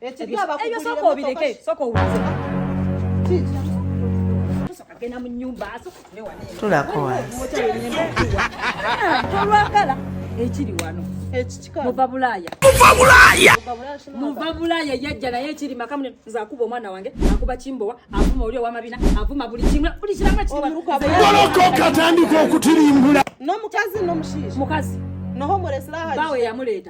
ebyo soka obireke soka owuze agenda mu nyumba tulako tolwagala ekiri wano muva bulaaya muva bulaaya yajja naye ekiri maka mune nze akuba omwana wange akuba kimbowa avuma oli owamabina avuma buli kimwe buli kiramu ekitolokooka atandika okutirimbula nomukazi nomushiisha mukazi noho mulesirahabawe yamuleeta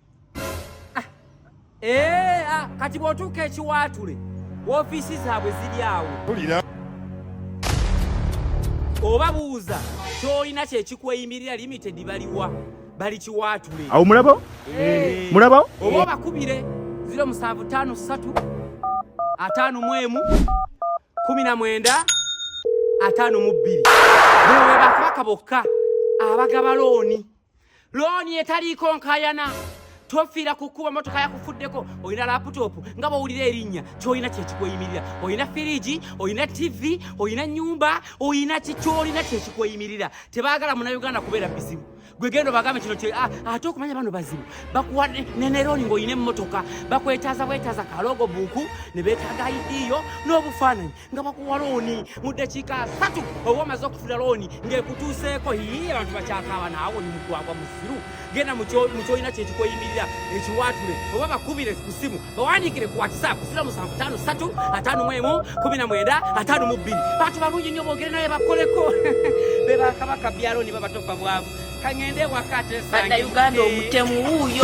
Ah, ee, ah, kati bw'otuuka ekiwaatule woofiisi zaabwe ziri awo tulira oba buuza kyolina kyekikweyimirira limited baliwa bali kiwaatule awo mulabawo eh. mulabawo oba obakubire 0753 ataano mu emu kumi na mwenda ataano mu bbiri bewe bakabaka bokka abagaba looni looni etaliiko nkayana tofiira ku kkuba motoka yakufuddeko olina laputopu nga bwowulira erinnya kyolina kyekikweyimirira olina firigi olina tivi olina nyumba olina kikyolina kyekikweyimirira tebaagala munauganda kubeera bizibu gwegenda obagambe kino ah, ate okumanya bano bazibu bakuwa neneroni ngaolina emmotoka bakwetaaza bwetaaza kalogo buuku ne betaaga idiyo n'obufaananyi nga bakuwa looni mu ddakiika asatu oba omaze okufuna looni ng'ekutuuseeko yii abantu bakyakaaba naawe oli mugwagwa musiru genda mu kyolina kyekikoyimirira ekiwaatule oba bakubire ku ssimu bawandiikire ku whatsapp sira musanvu taano satu ataano mu emu kumi na mwenda ataano mu bbiri bantu balungi nnyo boogere naye bakoleko be bakabaka byalooni babatofa bwavu kangende ewaka atesange uganda omutemu wuuyo